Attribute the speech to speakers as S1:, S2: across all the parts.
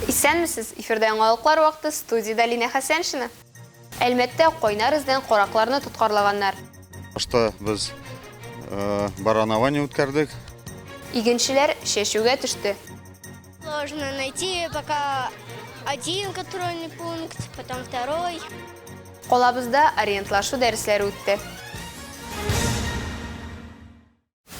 S1: Исәнмесез! Эфирда яңалыклар вакыты, студиядә Линә Хәсәншина. Әлмәттә кайнар эздән каракларны тоткарлаганнар. Башта
S2: без баранование үткәрдек. Игенчеләр
S1: чәчүгә төште. Сложно
S3: найти пока один контрольный пункт, потом второй. Колабызда
S1: ориентлашу дәресләре үтте.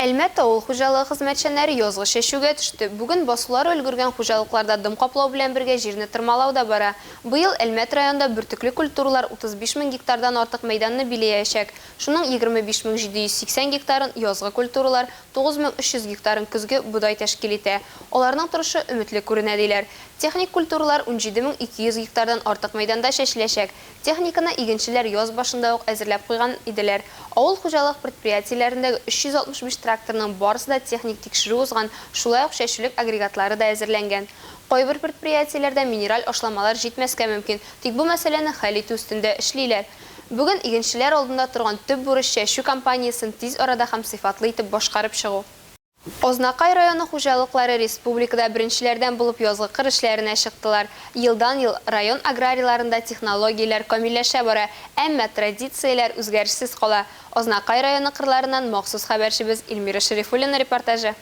S1: Әлмәт авыл хуҗалыгы хезмәтчәннәре язгы чәчүгә төште. Бүген басулары өлгергән хуҗалыкларда дым каплау белән бергә җирне тырмалау да бара. Быел Әлмәт районында бөртекле культуралар 35 мең гектардан артык мәйданны биләячәк. Шуның 25 мең 780 гектарын, язгы культуралар, 9300 гектарын көзге бодай тәшкил итә. Аларның торышы өметле күренә, диләр. Техник культуралар 17200 гектардан артык мәйданда чәчеләчәк. Техниканы игенчеләр яз башында ук әзерләп куйган иделәр. Авыл хуҗалык предприятиеләрендәге 365 тракторның барысы да техник тикшерү узган, шулай ук чәчүлек агрегатлары да әзерләнгән. Кайбер предприятиеләрдә минераль ашламалар җитмәскә мөмкин, тик бу мәсьәләне хәл итү өстендә эшлиләр. Бүген игенчеләр алдында торган төп бурыч чәчү кампаниясен тиз арада һәм сыйфатлы итеп башкарып чыгу. Азнакай районы хуҗалыклары республикада беренчеләрдән булып язгы кыр эшләренә чыктылар. Елдан-ел район аграрийларында технологияләр камилләшә бара, әмма традицияләр үзгәрешсез кала. Азнакай районы кырларыннан махсус хәбәрчебез Эльмира Шәрифуллина репортажы.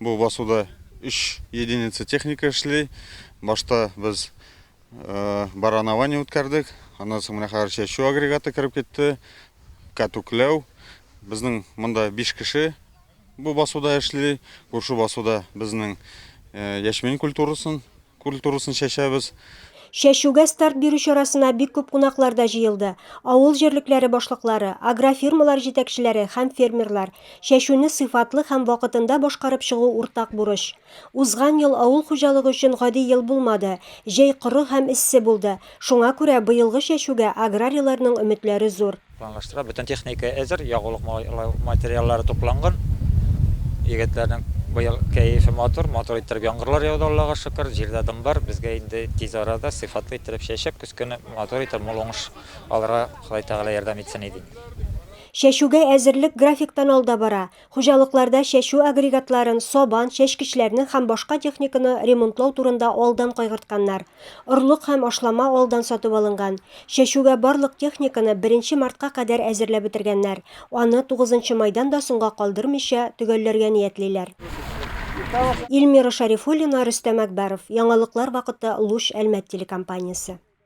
S2: Бу басуда өч единица техника эшли. Башта без баранование үткәрдек. Аннан соң менә хәзер чәчү агрегаты кереп китте. Кәтүкләү. Безнең монда 5 кеше бу басуда эшли. Күрше басуда безнең яшьмин культурасын Культурасын чәчәбез. Чәчүгә
S4: старт бирү чарасына бик күп кунаклар да җыелды. Авыл җирлекләре башлыклары, агрофирмалар җитәкчеләре һәм фермерлар. Чәчүне сыйфатлы һәм вакытында башкарып чыгу уртак бурыч. Узган ел авыл хуҗалыгы өчен гади ел булмады. Җәй коры һәм эссе булды. Шуңа күрә быелгы чәчүгә аграрийларның өметләре зур. Планлаштыра. Бөтен техника
S5: әзер, ягулык материаллары тупланган. Егетләрнең быел кәефе матур, матур иттереп яңгырлар яуды, Аллага шөкер. Җирдә дым бар, безгә инде тиз арада сыйфатлы иттереп чәчеп, көзгене матур итеп, мул уңыш алырга Ходай Тәгалә ярдәм итсен иде инде. Чәчүгә
S4: әзерлек графиктан алда бара. Хуҗалыкларда чәчү агрегатларын, сабан, чәчкечләрне һәм башка техниканы ремонтлау турында алдан кайгыртканнар. Орлык һәм ашлама алдан сатып алынган. Чәчүгә барлык техниканы беренче мартка кадәр әзерләп бетергәннәр, аны тугызынчы майдан да соңга калдырмыйча төгәлләргә ниятлиләр. Ильмира Шарифуллина, Рөстәм Әкбәров, Яңалыклар вакыты, Луч Әлмәт телекомпаниясе.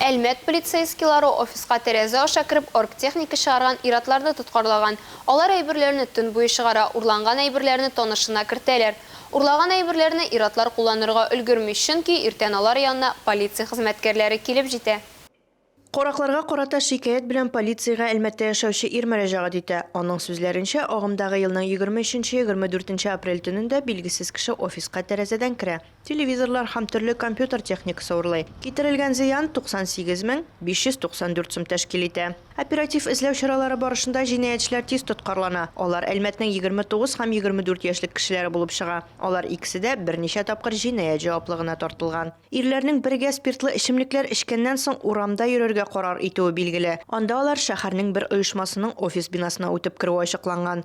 S1: Әлмәт полицейскийлары офиска тәрәзә аша кереп оргтехника чыгарган ир-атларны тоткарлаган. Алар әйберләрне төн буе чыгара, урланган әйберләрне танышына кертәләр. Урлаган әйберләрне ир-атлар кулланырга өлгерми, чөнки иртән алар янына полиция хезмәткәрләре килеп җитә. Каракларга
S6: карата шикаять белән полициягә Әлмәттә яшәүче ир мөрәҗәгать итә. Аның сүзләренчә, агымдагы елның егерме өченче-егерме дүртенче апрель төнендә билгесез кеше офиска тәрәзәдән керә. телевизорлар һәм төрле компьютер техникасы урлый. Китерелгән зыян 98 мең 594 сум тәшкил итә. Оператив эзләү чаралары барышында җинаятьчеләр тиз тоткарлана. Алар Әлмәтнең 29 һәм 24 яшьлек кешеләре булып чыга. Алар икесе дә берничә тапкыр җинаять җаваплыгына тартылган. Ирләрнең бергә спиртлы эчемлекләр эчкәннән соң урамда йөрергә карар итүе билгеле. Анда алар шәһәрнең бер оешмасының офис бинасына үтеп керүе ачыкланган.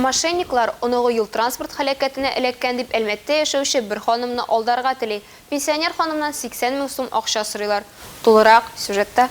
S6: Мошенниклар,
S1: оныгы юл-транспорт һәлакәтенә эләккән дип Әлмәттә яшәүче бер ханымны алдарга тели. Пенсионер ханымнан 80 мең сум акча сорыйлар. Тулырак, сюжетта.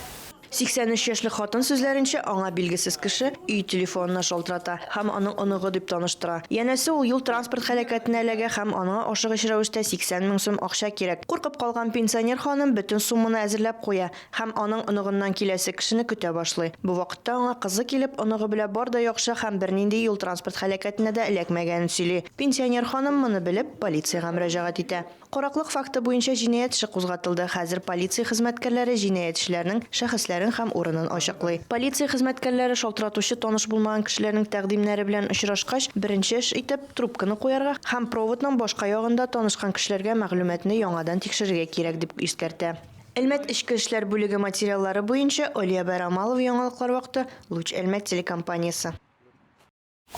S1: 83
S6: яшьлек хатын сүзләренчә, аңа билгесез кеше өй телефонына шалтырата һәм аның оныгы дип таныштыра. Янәсе, ул юл-транспорт һәлакәтенә эләгә һәм аңа ашыгыч рәвештә 80 мең сум акча кирәк. Куркып калган пенсионер ханым бөтен сумманы әзерләп куя. Һәм аның оныгыннан киләсе кешене көтә башлый. Бу вакытта аңа кызы килеп, оныгы белә бар да яхшы һәм бернинди юл-транспорт һәлакәтенә дә эләкмәгәнен сөйли. Пенсионер ханым, моны белеп, полициягә мөрәҗәгать итә. Караклык факты буенча җинаять эше кузгатылды, хәзер полиция хезмәткәрләре җинаятьчеләрнең шәхесләрен һәм урынын ачыклый. Полиция хезмәткәрләре шалтыратучы таныш булмаган кешеләрнең тәкъдимнәре белән очрашкач, беренче эш итеп, трубканы куярга һәм проводның башка ягында танышкан кешеләргә мәгълүматны яңадан тикшерергә кирәк, дип искәртә. Әлмәт эчке эшләр бүлеге материаллары буенча Олиябәр Амалов Яңалыклар вакыты, Луч Әлмәт телекомпаниясе.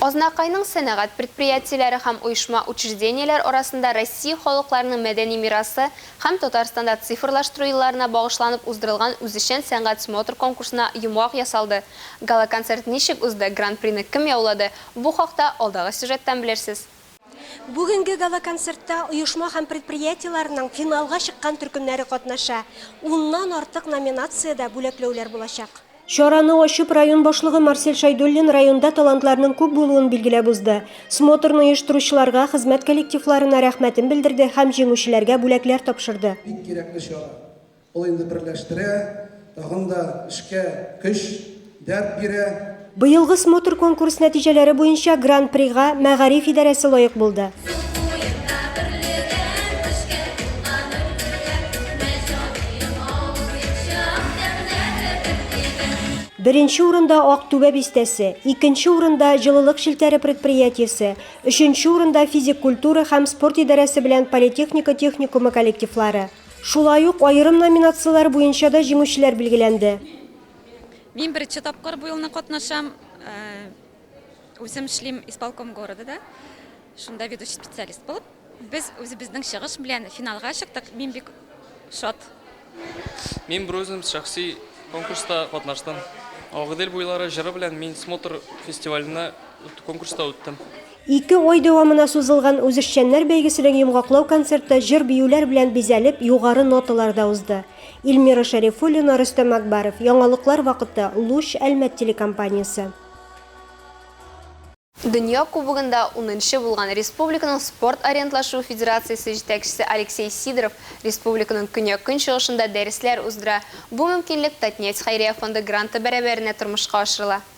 S1: Азнакайның сәнәгать предприятиеләре һәм оешма-учреждениеләр арасында Россия халыкларының мәдәни мирасы һәм Татарстанда цифрлаштыру елларына багышланып уздырылган үзешчән сәнгать смотр-конкурсына йомгак ясалды. Гала-концерт ничек узды, гран-прины кем яулады, бу хакта алдагы сюжеттан белерсез. Бүгенге
S7: гала-концертта оешма һәм предприятиеләрнең финалга чыккан төркемнәре катнаша. Уннан артык номинациядә бүләкләүләр булачак. Чараны ачып,
S4: район башлыгы Марсель Шәйдуллин районда талантларның күп булуын билгеләп узды. Смотрны оештыручыларга, хезмәт коллективларына рәхмәтен белдерде һәм җиңүчеләргә бүләкләр тапшырды. Бик кирәкле чара.
S8: Ул инде берләштерә, тагын да эшкә көч, дәрт бирә. Быелгы смотр
S4: конкурс нәтиҗәләре буенча Гран-прига Мәгариф идарәсе лаек булды. Беренче урында Актүбә бистәсе, икенче урында Җылылык челтәре предприятиесе, өченче урында физик культура һәм спорт идарәсе белән политехника техникумы коллективлары. Шулай ук аерым номинацияләр буенча да җиңүчеләр билгеләнде.
S9: Мин беренче тапкыр бу елны катнашам. Үзем эшлим исполком города да. Шунда ведущий специалист булып. Без үзебезнең чыгыш белән финалга чыктык. Мин бик шат.
S10: Мин берүзем шәхси конкурста катнаштым. Агыйдел буйлары җыры белән мин Смотр фестиваленә конкурста үттем. Ике ай
S4: дәвамына сузылган үзешчәннәр бәйгесенең йомгаклау концерты җыр-биюләр белән бизәлеп, югары ноталарда узды. Илмира Шәрифуллина, Рөстәм Акбаров. Яңалыклар вакыты, Луч, Әлмәт телекомпаниясе.
S1: Дөнья Кубогында унынчы булган республиканың спорт ориентлашуы федерациясе җитәкчесе Алексей Сидоров республиканың көньяк-көнчыгышында дәресләр уздыра. Бу мөмкинлек Татнефть хәйрия фонды гранты бәрабәренә тормышка ашырыла.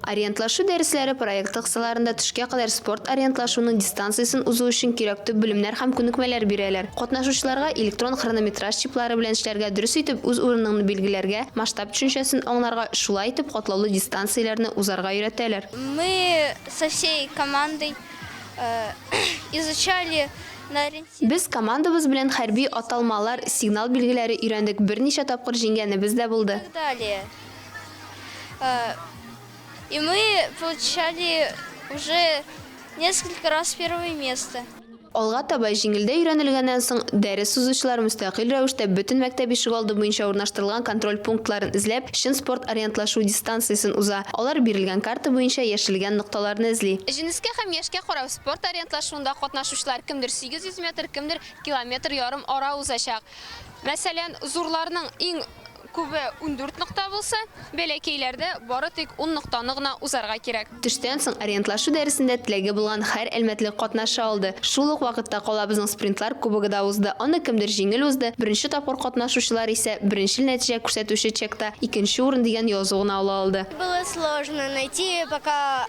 S11: Ориентлашу
S1: дәресләре проекты кысаларында төшкә кадәр спорт ориентлашуның дистанциясен узу өчен кирәк төп белемнәр һәм күнекмәләр бирәләр. Катнашучыларга электрон хронометраж чиплары белән эшләргә, дөрес итеп үз урыныңны билгеләргә, масштаб төшенчәсен аңларга, шулай итеп катлаулы дистанцияләрне узарга өйрәтәләр. Мы
S3: со всей командой изучали на ориентиры. Без командабыз белән
S1: хәрби аталмалар, сигнал билгеләре өйрәндек, берничә тапкыр җиңгәнебез дә булды. И так далее. Э,
S3: и мы получали уже несколько раз первое место. Алга таба
S1: җиңелдә өйрәнелгәннән соң дәрес узучылар мөстәкыйль рәвештә бөтен мәктәп ишегалды буенча урнаштырылган контроль пунктларын эзләп, чын спорт ориентлашу дистанциясен уза. Алар бирелгән карта буенча яшелгән нокталарны эзли. Җенескә һәм яшькә карап, спорт ориентлашуында катнашучылар кемдер 800 метр, кемдер километр ярым ара узачак. Мәсәлән, зурларның иң Күбе ундүрт нокта булса, бәләкәйләрдә бары тик ун ноктаны гына узарга кирәк. Төштән соң ориентлашу дәресендә теләге булган һәр әлмәтлек катнаша алды. Шул ук вакытта калабызның спринтлар кубогы да узды, аны кемдер җиңел узды, беренче тапкыр катнашучылар исә беренчел нәтиҗә күрсәтүче чекта икенче урын дигән язу гына ала алды. Было сложно
S3: найти пока.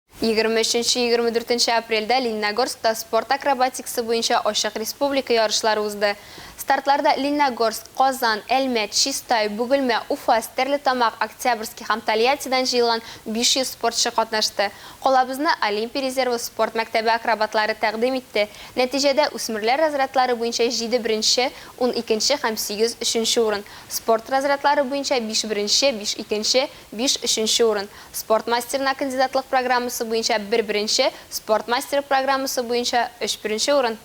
S1: Егерме өченче-егерме дүртенче апрельдә Лениногорскта спорт акробатикасы буенча ачык республика ярышлары узды. Стартларда Лениногорск, Казан, Әлмәт, Чистай, Бөгелмә, Уфа, Стәрлетамак, Октябрьский һәм Тольяттидан җыелган 500 спортчы катнашты. Калабызны Олимпия резервы спорт мәктәбе акробатлары тәкъдим итте. Нәтиҗәдә, үсмерләр разрядлары буенча җиде беренче, ун икенче һәм сигез өченче урын, спорт разрядлары буенча биш беренче, биш икенче, Биш өченче урын, спорт мастерына кандидатлык программасы буенча бер беренче, спорт мастеры программасы буенча өч беренче урын.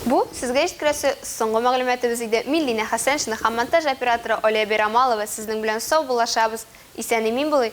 S1: Бу, сезгә җиткерәсе соңгы мәгълүматыбыз иде. Мин Линә Хәсәншина һәм монтаж операторы Алия Бәйрамалова сезнең белән сау булашабыз. Исән-имин булыйк!